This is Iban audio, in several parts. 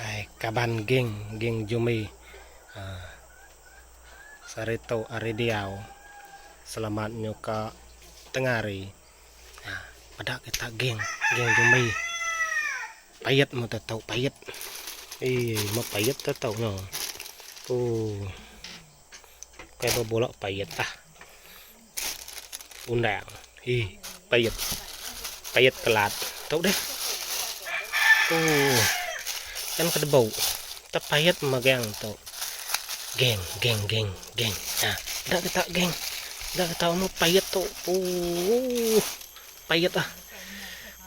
Ai kaban geng geng jumi aaa sehari tu ari diau selamat nyuka tengah hari aaa peda kita geng geng jumi pait mu tu tu pait ee mu pait tu tu nyo ooh kai bebulok pait ah. Undang. Ih, pait. Pait kelat. Tau deh. Uh. Kan kada bau. Tak pait megang tu. Geng, geng, geng, geng. Ha, dak kita geng. Dak kita mau pait tu. Uh. Pait ah.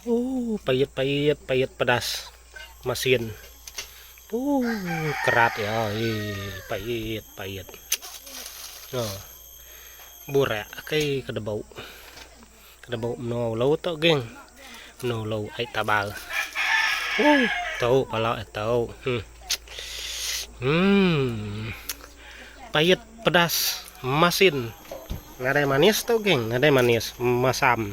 Uh, pait, pait, pait pedas. Masin. Uh, kerat ya. Ih, pait, pait. Oh. Burak akai ke debau. Ke debau menoa ulau tu geng. Menoa ulau ai tabar. Uh, tu pala eh tu. Hmm. Hmm. Payet pedas masin. Nadai manis tu geng, nadai manis. Masam.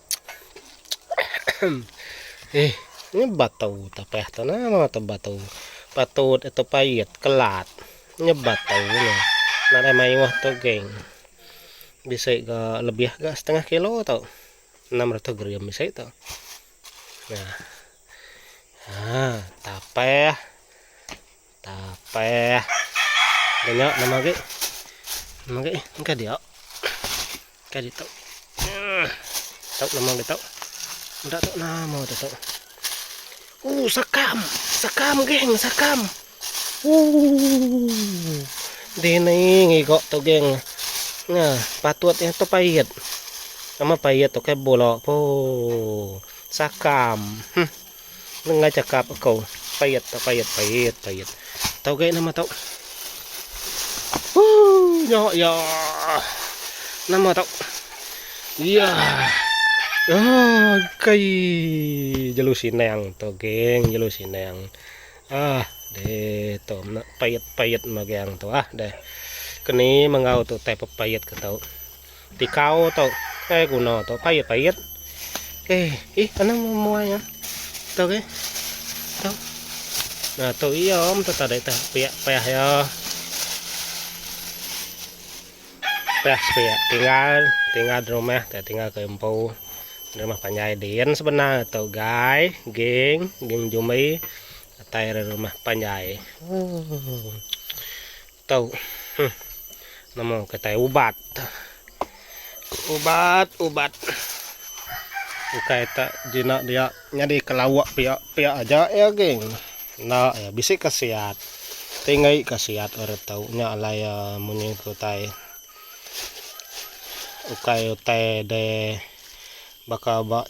Ih, nya batu ta payah tu nah meh tu batu. Patut eh tu pait, kelat. Nya batu nya. Nadai mayuh tu geng. Bisi ga lebih ga setengah kilo tu. 600 gram bisi tu. Nah. Ha, tapah. Tapeh. Danya nama agi. Nama agi. Engka dia. Engka dia tu. Tu nama agi tu. Enda tu nama tu tu. Uh, sakam. Sakam geng, sakam. Uh. Dini ngigok tu geng. Nga, patut yang tu payet. Nama payet tu ke bola. Oh. Sakam. Hm. Nengah cakap aku. Pait tau pait pait pait. Tau gai nama tau. Huh nya ya. Nama tau. Ya. Ah gai jelu sinang tu geng jelu sinang. Ah deh tu pait pait magang tu ah deh. Keni menggau tu tai pepait ke tau. Tikau tu eh guna tu pait pait. Eh, ih anang memuai ya. Tu ke? Tu. Nah, tu iya om tu tadi tu piak payah ya. Payah piak tinggal tinggal di rumah tak tinggal ke empu. Di rumah panjai din sebenar tu gai ging ging jumbi atai rumah panjai. Oh. Tau huh nemu kitai ubat ubat ubat ukai tak jinak dia nyadi ke lauk pia pia aja ya geng enda ya bisi kasiat tinggi kasiat urip tau nya alai ya munyi ke utai ukai utai deh baka ba.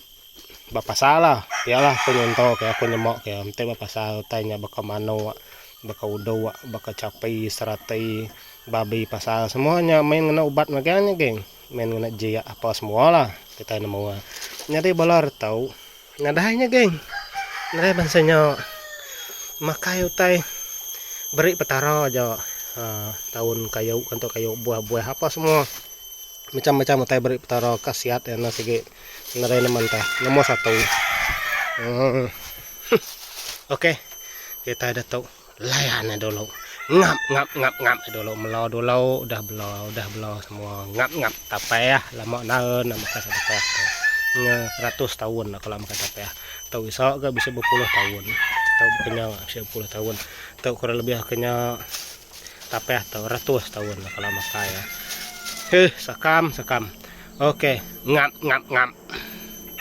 Bapasal lah iya lah aku nyonto ke aku nyema ke enti bapasal utai nya baka manok baka udok baka chapi serati babi pasal semua nya main ngena ubat megang nya geng main ngena jik ape semua lah kitai nemu nya nyadi bala reto nadai nya geng nadai bansa nya makai utai beri petara aja aaa daun kayu ngantok kayu buah-buah ape semua macam-macam utai beri petara khasiat iya nya sigi. Ngarai nama enta. Nombor satu. Okey. Kitai ditu layan ai dulu. Ngap ngap ngap ngap ai dulu. Melo dulu udah belo udah belo semua. Ngap ngap tapeh lama naun nak makan sapeh tu. Nya ratus taun dah kala makan sapeh tu iso ga bisi bepuluh taun. Tu ke nya bisi bepuluh taun. Tu kurang lebih ke nya. Tapah tu ratus taun dah kala makai ya. Heh sakam sakam. Okey ngap ngap ngap.